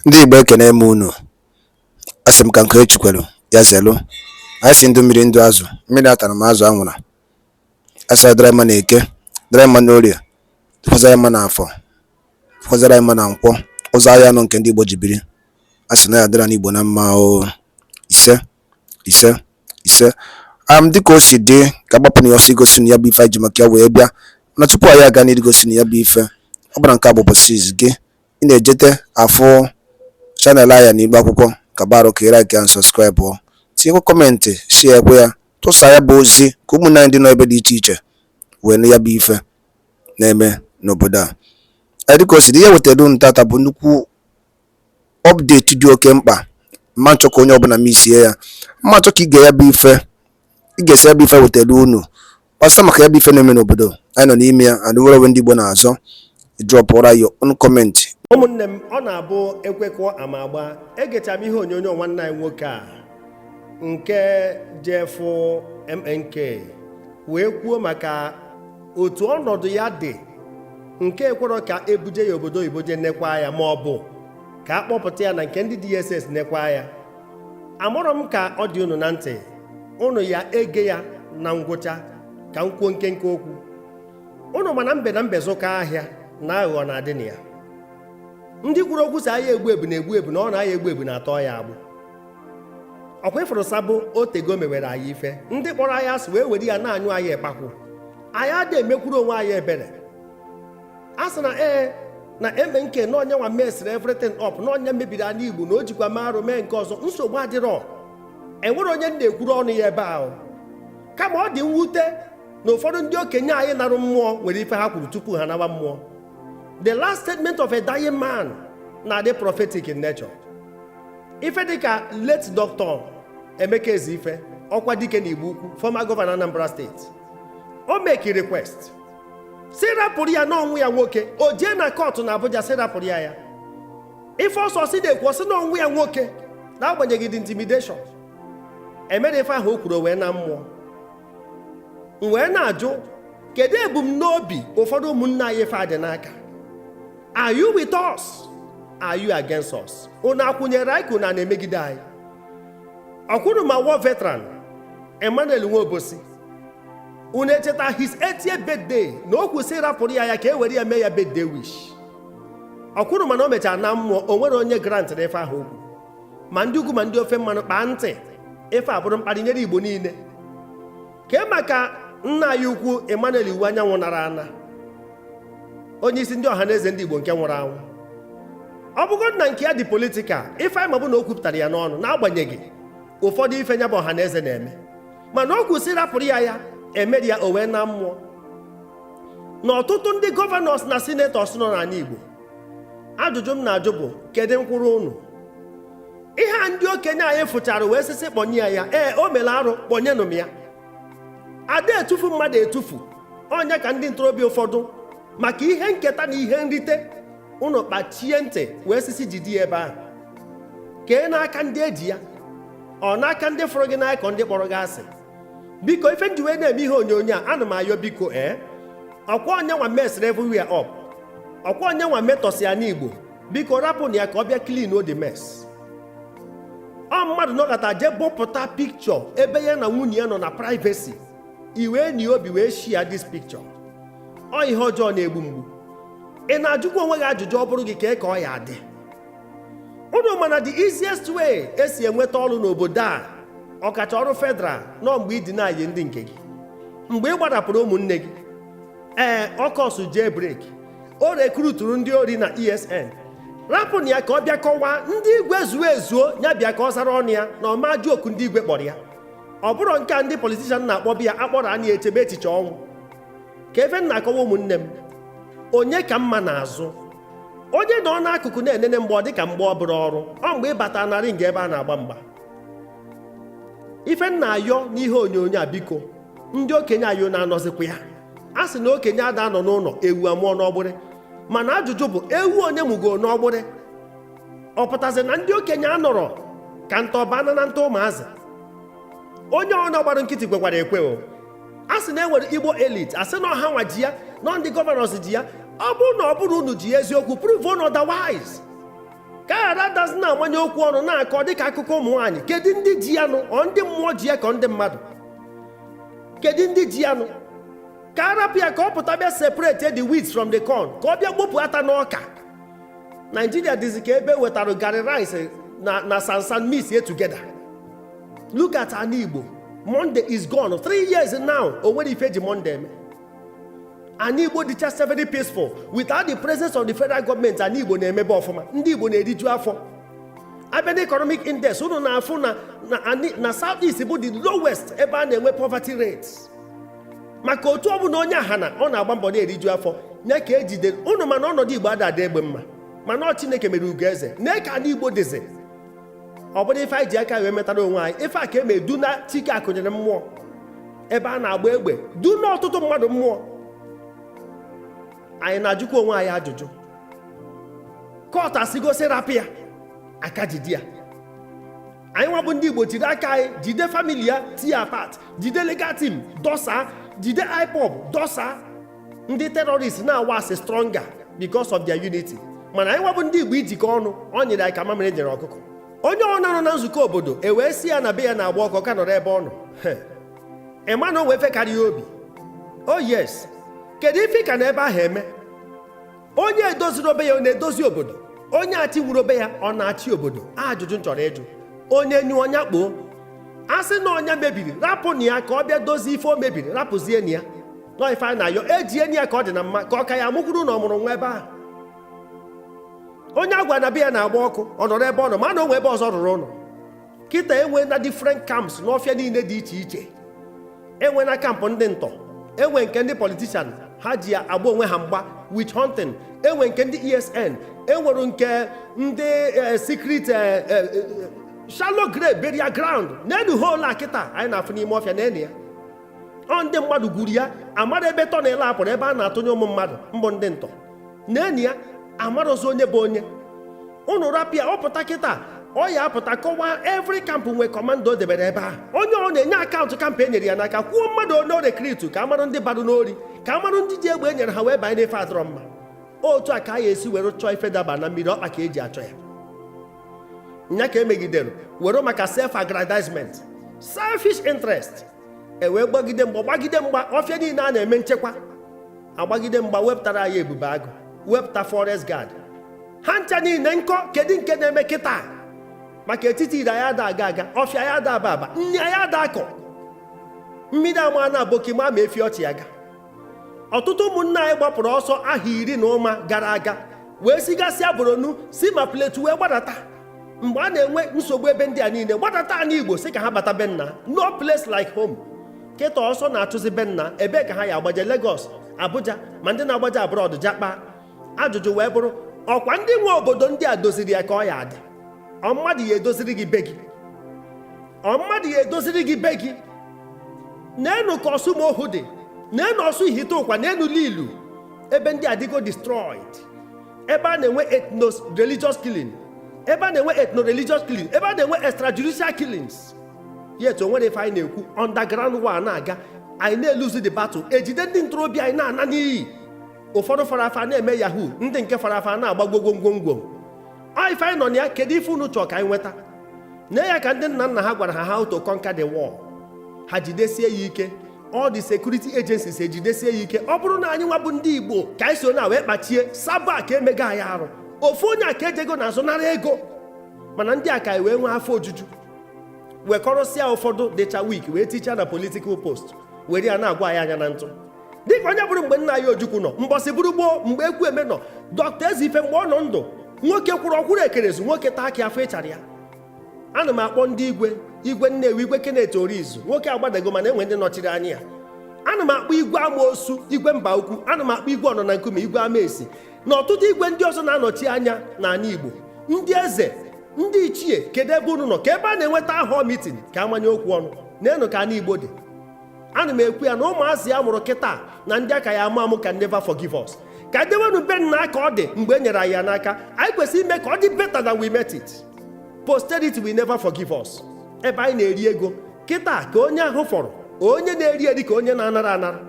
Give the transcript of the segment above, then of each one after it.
Ndị Igbo ekene m unu. A sị m ka nke Echi kwelu, ya zelu. Anyị sị ndụ mmiri ndụ azụ, mmiri atara ma azụ anwụra. A sị dịrị mma na eke, dịrị mma n'orie, dịkwazara mma na afọ, dịkwazara mma na nkwọ. Ụzọ ahịa anọ nke ndị Igbo ji biri. A sị na ya dịrị ndị Igbo na mma o. Ise, ise, ise. Am dịka o si dị ka agbapụ na ya ọsọ igosi unu ya bụ ife anyị ji maka ya wee bịa. Mana tupu anyị aga n'iru igosi unu ya bụ ife, ọ bụrụ na nke a bụ ụbọchị izizi gị, Ị na-ejete afụ channel anyị n'ibe akwụkwọ ka barụ ka ị like and subscribe o tinyekwa comment share kwa ya tụsa ya bụ ozi ka ụmụnne anyị ndị nọ ebe dị iche iche wee nụ ya bụ ife na-eme n'obodo a dịka o si dị ihe wetara unu taata bụ nnukwu update dị oke mkpa m na-achọ ka onye ọbụla misie ya m na-achọ ka ị gee ya bụ ife ị gesịa ya bụ ife wetara unu ọsọ maka ya bụ ife na-eme n'obodo anyị nọ n'ime ya and nwere onwe ndị Igbo na-azọ drọpụra ya on comment ụmụnne m ọ na-abụ ekwe kụọ ama agbaa egechaa m ihe onyonyo nwanne anyị nwoke a nke jefụ MNK wee kwuo maka otu ọnọdụ ya dị nke ekwerọ ka e buje ya obodo oyibo jee nekwa ya ma ọ bụ ka a kpọpụta ya na nke ndị DSS nekwa ya amarọ m ka ọ dị unu na ntị unu ya ege ya na ngwụcha ka m kwuo nkenke okwu unu ma na mbe na mbe zụkọ ahịa na aghụghọ na-adị na ya ndị kwuru okwu sị ahịa egbu ebu na-egbu ebu na ọ na ahịa egbu ebu na-atọ ya agbụ ọ kwa ị fụrụ sabụ o tego e mewere anyị ife ndị kpọrọ anyị asị wee were ya na-anyụ anyị ịkpakwụ anyị ada emekwuru onwe anyị ebere a sị na ee na MNK na ọ nya nwa mesịrị everything up na ọ nya mebiri ana Igbo na o jikwa mee arụ mee nke ọzọ nsogbu adịrọ enwerọ onye m na-ekwuru ọnụ ya ebe ahụ kama ọ dị mwute na ụfọdụ ndị okenye anyị narụ mmụọ nwere ife ha kwuru tupu ha nawa mmụọ the last statement of a dying man na-adị prophetic in nature ife dịka late doctor Emeka Ezeife Okwadike na Igbo Ukwu former governor Anambra State o make request sị rapụrụ ya na ọ nwa ya nwoke o jee na kọtụ na Abuja sị rapụrụ ya ya ife ọsọ si na-ekwu ọ sị na ọ nwa ya nwoke n'agbanyeghị the intimidation emere ife ahụ o kwuru wee naa mmụọ m wee na-ajụ kedu ebumnobi ụfọdụ ụmụnne anyị ife a dị n'aka are you with us are you against us unu akwụnyere anyị ka unu na-emegide anyị ọkwụrụ ma war veteran Emmanuel Nwobosi unu echeta his 80th birthday na o kwu sị rapụrụ ya ya ka e were ya mee ya birthday wish o kwuru mana o mechaa naa mmụọ o nwere onye grantrị ife ahụ o kwu ma ndị ugwu ma ndị ofe mmanụ kpaa ntị ife a bụrụ mkparị nyere igbo niile kee maka nna anyị ukwu emmanuel iwuanyanwu nara ana onye isi ndị ọha na eze ndị igbo nke nwụrụ anwụ ọ bụgodu na nke ya dị politikal ife anyị ma bụ na o kwupụtara ya n'ọnụ n'agbanyeghị ụfọdụ ife nya bụ ọha na eze na-eme mana o kwu sị rapụrụ ya ya emerọ ya o wee naa mmụọ na ọtụtụ ndị gọvanọs na sinetọs nọ n'ala Igbo ajụjụ m na-ajụ bụ kedu nkwụrụ unu ihe a ndị okenye anyị fụchara wee sị sị kpọnye ya ya ee o mere arụ kpọnyenụ m ya ada etufu mmadụ etufu onye ka ndị ntorobịa ụfọdụ maka ihe nketa na ihe nrite unu kpachie ntị wee sị sị jide ya ebe ahụ kee n'aka ndị eji ya ọ n'aka ndị fụrụ gị n'anya ka ọ ndị kpọrọ gị asị biko ife m ji wee na-eme ihe onyonyo a ana m ayọ biko ee eh? ọkwa onyenwa mesịrị everywhere up ọkwa onyenwa metọsị ya n'igbo biko rapụnụ ya ka ọ bịa clean up the mess ọ mmadụ nọkata jee bupụta pikchọ ebe ya na nwunye ya nọ na privacy i wee nwee obi wee share this picture ọ ihe ọjọọ na-egbu mgbu ị na-ajụkwa onwe gị ajụjụ ọ bụrụ gị kee ka ọ ya-adị unu ma na the easiest way esi enweta ọrụ n'obodo a ọkacha ọrụ federal na ọ mgbe ị deny ndị nke gị mgbe ị gbarapụrụ ụmụnne gị ee ọ cause jailbreak o recruiturụ ndị ori na esn rapụnụ ya ka ọ bịa kọwaa ndị igwe zuo ezuo ya bịa ka ọ zara ọnụ ya na ọ ma ajụ oku ndị igwe kpọrọ ya ọ bụrọ nke a ndị politishan na-akpọbe ya akpọrọ anyị echebe echiche ọnwụ ka ife m na-akọwa ụmụnne m onye ka mma n'azụ onye nọ n'akụkụ na-enene mgba ọ dị ka mgba ọ bụrọ ọrụ ọ mgbe ị bata na ring a ebe a na-agba mgba ife m na-ayọ n'ihe onyonyo a biko ndị okenye anyị unu anọzikwa ya a sị na okenye ada anọ n'ụlọ ewu amụọ n'ọgbụrị mana ajụjụ bụ ewu one mụgo n'ọgbụrị ọ pụtazi na ndị okenye anọrọ ka ntọba na na nta ụmụazị onye ọbụna gbara nkịtị kwekwara ekwe o a sị na e nwere igbo elite a sị na ọha nwa dị ya na ndị gọvanọs dị ya ọ bụrụ na ọ bụrọ unu ji ya eziokwu provenụ otherwise ka a ghara dazi na-amanye okwu ọnụ na-akọ dịka akụkọ ụmụ nwaanyị kedu ndị ji ya nụ ọ ndị mmụọ ji ya ka ọ ndị mmadụ kedu ndị ji ya nụ ka arapụ ya ka ọ pụta bịa separate the wheat from the corn ka ọ bịa gbopụ ata n'ọka naijiria dịzi ka ebe e wetara garị rice na sansan mixie together look at ana Igbo Monday is gone three years now o nwere ife e ji Monday eme ana Igbo dịcha very peaceful without the presence of the federal government ana Igbo na-emebe ọfụma ndị Igbo na-eriju afọ abịa na economic index unu na-afụ na south east bụ the lowest ebe a na-enwe poverty rate maka otu ọ bụna onye aha na ọ na-agba mbọ na-eriju afọ nee ka ejide unu mana ọnọdụ Igbo ada adị egbe mma mana ọ Chineke mere ugo eze nee ka ana Igbo dịzi ọ bụrụ ife anyị ji aka wee metara onwe anyị ife a ka eme duna Chike Akunyili mmụọ ebe a na-agba egbe duna ọtụtụ mmadụ mmụọ anyị na-ajụkwa onwe anyị ajụjụ court asịgo sị rapụ ya a ka jide ya anyị nwabụ ndị igbo jiri aka anyị jide family ya tie apart jide legal team dọsa jide IPOB dọsa ndị terrorist na-awax stronger because of their unity mana anyị nwa bụ ndị igbo ijikọ ọnụ ọ nyịrị anyị ka mamịrị nyịrị ọkụkọ onye ọbụna nọ na nzukọ obodo e wee sị ya na be ya na-agba ọkụ ọ ka nọrọ ebe ọ nọ ị ma na o nwe ife karị ya obi o oh, yes kedu ife ọ ka nọ ebe ahụ eme onye edoziro be ya ọ na-edozi obodo onye achịnwuro be ya ọ na-achị obodo ajụjụ m chọrọ ịjụ onye nyụọ nya kpoo a sị na ọ nya mebiri rapụnụ ya ka ọ bịa dozie ife o mebiri rapụzienụ ya nọ ife anyị na-ayọ eji enyi ya ka ọ dị na mma ka ọ ka ya amụkwuru na ọ mụrụ nwa ebe ahụ onye a gwa na be ya na-agba ọkụ ọ nọrọ ebe ọ nọ ma na o nwe ebe ọzọ ọ rụrụ ụlọ kịta e nwena different camps n'ọfịa niile dị iche iche e nwena camp ndị ntọ enwe nke ndị politician ha ji agba onwe ha mgba witch hunting enwe nke ndị esn enwere nke ndị eh, secret eh, eh, shallow grave burial ground neenụ hole a kịta anyị na-afụ n'ime ọfịa neenụ ya ọ ndị mmadụ gwuru ya amara ebe tunnel a pụrụ ebe a na-atụnye ụmụ mmadụ mbụ ndị ntọ neenụ ya amarozi onye bụ onye ụnụ rapụ ya ọ pụta kịta ọ ya apụta kọwaa every camp nwee commander o debere ebe ahụ onye ọbụna enye account camp e nyere ya n'aka kwuo mmadụ one o rekritu ka amarụ ndị bara n'ori ka amarụ ndị ji egbe e nyere ha wee banye n'ife adịrọ mma otu a ka a ya esi were chọọ ife daba na mmiri ọkpa ka eji achọ ya nya ka emegidere were maka self aggrandizement selfish interest e wee gbagide mgba gbagide mgba ọfịa niile a na-eme nchekwa agbagide mgba wepụtara anyị ebube agụ wepụta forest guard ha ncha niile nkọ kedu nke na-eme kịta maka etiti iro anyị ada aga aga ọfịa anyị ada aba aba nri anyị ada akọ mmiri amana aboki ma maa efi ọ chị aga ọtụtụ ụmụnna anyị gbapụrụ ọsọ ahọ iri na ụma gara aga wee sigasịa Borno si ma Plateau wee gbadata mgbe a na-enwe nsogbu ebe ndị a niile gbadata anị igbo sị ka ha bata be nna no place like home kịta ọsọ na-achụzi be nna ebee ka ha ya agbaje Lagos Abuja ma ndị na-agbaje abroad japa ajụjụ wee bụrụ ọkwa ndị nwe obodo ndị a doziri ya ka ọ ya adị ọ mmadụ ya edoziri gị be gị ọ mmadụ ya edoziri gị be gị neenụ ka ọsụmoghu dị neenụ ọsụ ihiteụkwa neenụ lilu ebe ndị adịgo destroyed ebe a na-enwe ethno religious killing ebe a na-enwe ethno religious killing ebe a na-enwe extrajudicial killings yet o nwere ife anyị na-ekwu underground war na-aga anyị na-eluzi the battle ejide ndị ntorobịa anyị na-ana n'iyi ụfọdụ fara afa na-eme yahoo ndị nke fara afa na-agba gwogwogwongwo ọ ife anyị nọ na ya kedu ife unu chọọ ka anyị nweta na ya ka ndị nna nna ha gwara ha how to conquer the war ha jidesie ya ike all the security agencies ejidesie ya ike ọ bụrụ na anyị nwa bụ ndị igbo ka anyị so na wee kpachie saba ka emega anyị arụ ofu onye aka ejego n'azụ nara ego mana ndị aka wee nwee afọ ojuju wekọrọsịa ụfọdụ dịcha weak wee tichaa na political post were ya na-agwa anyị anya na ntụ dịka onye bụrụ mgbe nna anyị ojukwu nọ mbọsị bụrụ gboo mgbe ekwueme nọ doctor ezeife mgbe ọ nọ ndụ nwoke kwụrụ ọkwụrụ ekerezu nwoke taa akị afụ ịchara ya ana m akpọ ndị igwe igwe nnewi igwe kenneth orizu nwoke agbadago mana enwe ndị nọchiri anya ya ana m akpọ igwe amaosu igwe mbaukwu ana m akpọ igwe ọnọ na nkume igwe amaesi na ọtụtụ igwe ndị ọzọ na-anọchi anya n'ana igbo ndị eze ndị ichie kedu ebe unu nọ ka ebe a na-enwe town hall mitin ka amanye okwu ọnụ neenụ ka ana igbo dị ana m ekwu ya na ụmụazị a mụrụ kịta na ndị aka ya amụ amụ can never forgive us ka dewenu be nna ka ọ dị mgbe e nyere anyị ya n'aka anyị kwesịrị ime ka ọ dị better than we met it posterity will never forgive us ebe anyị na-eri ego kịta ka onye ahụ fọrọ onye na-eri eri ka onye na-anara anara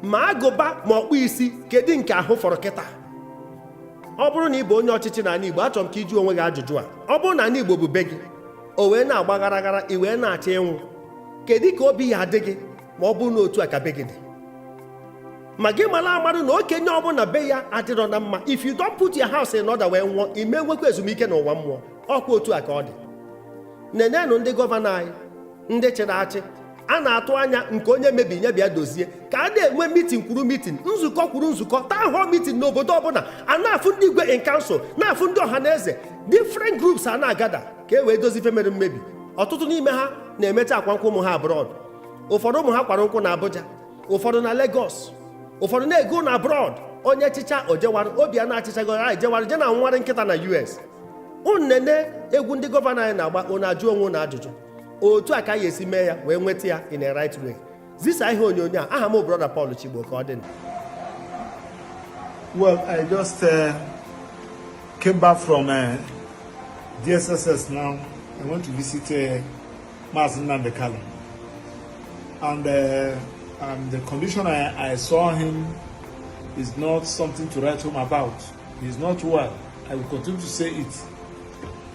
ma agụba ma ọkpụ isi kedu nke ahụ fọrọ kịta ọ bụrụ na ị bụ onye ọchịchị n'ana Igbo achọrọ m ka ị jụọ onwe gị ajụjụ a ọ bụrụ na ana Igbo bụ be gị o wee na-agba gharaghara i wee na-achọ ịnwụ kedu ka obi ya adị gị ma ọ bụrụ na otu a ka be gị dị ma gị mara amarụ na okenye ọbụla be ya adịrọ na mma if you don't put your house in order wee nwụọ ị ma enwekwa ezumike n'ụwa mmụọ ọkwa otu a ka ọ dị nenenụ ndị gọvanọ anyị ndị chịrị achị a na-atụ anya nke onye mebinye bịa dozie ka a na-enwe mitin kwuru mitin nzukọ kwuru nzukọ town hall mitin n'obodo ọbụla a na-afụ ndị igwe in council na-afụ ndị ọha na eze different groups a na-agada ka e wee dozi ife mere mmebi ọtụtụ n'ime ha na-emecha akwa nkwụ ụmụ ha abroad ụfọdụ ụmụ ha kwara nkwụ na Abuja ụfọdụ na Lagos ụfọdụ na-ego ụnọ abroad onye chịchaa o jewara obiano achịchago jewara je na-anwụwarị nkịta na US nene egwu ndị gọvanọ anyị na-agba unu ajụọ onwe unu ajụjụ otu a ka anyị esi mee ya wee nweta ya in a right way zisa ihe onyonyo a aha m brọda Paul Chigbo ka ọ dị well i just uh, came back from uh, DSSS now i went to visit uh, Maazị Nnamdi Kanu and uh, and the condition I, I saw him is not something to write home about. He's not well. I will continue to say it.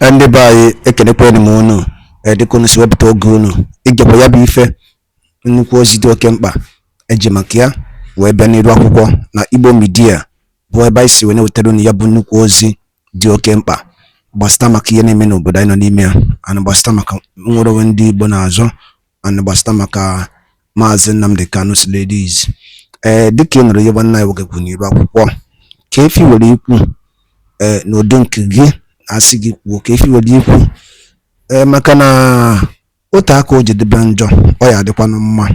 Eh, ndị be anyị ekenekwanụ m unu eh, dịka unu si wepụta oge unu igekwa ya bụ ife nnukwu ozi dị oke mkpa eji maka ya wee bịa n'iru akwụkwọ na igbo media bụ ebe anyị si wee na-ewetara unu ya bụ nnukwu ozi dị oke mkpa gbasịta maka ihe na-eme n'obodo anyị nọ n'ime ya and gbasịta maka nnwere onwe ndị igbo na-azọ and gbasịta maka Maazị Nnamdi Kanu release ee dịka ị nụrụ ihe nwanne anyị nwoke kwuru n'iru akwụkwọ kee ife i nwere ikwu ee n'ụdị nke gị asị gị kwuo kee ife i nwere ikwu ee maka na otu aka ọ jọdebe njọ ọ ya-adịkwanụ mma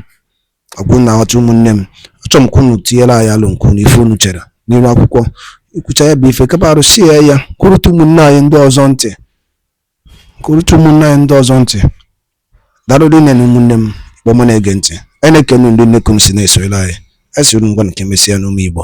ọkwa unu aghọta ụmụnne m achọrọ m ka unu tinyere anyị alo nke unu ife unu chere n'iru akwụkwọ i kwucha ya bụ ife kapa arụsie ya kụrụtụ ụmụnne anyị ndị ọzọ ntị Kụrụtụ ụmụnne anyị ndị ọzọ ntị. Daalụ rinne nụ ụmụnne m kpọma na-ege ntị. Anyị na-ekene ndị nnekwu si na-esonyere anyị. Anyị sịrị ngwanụ ka emesịanụ ụmụ Igbo.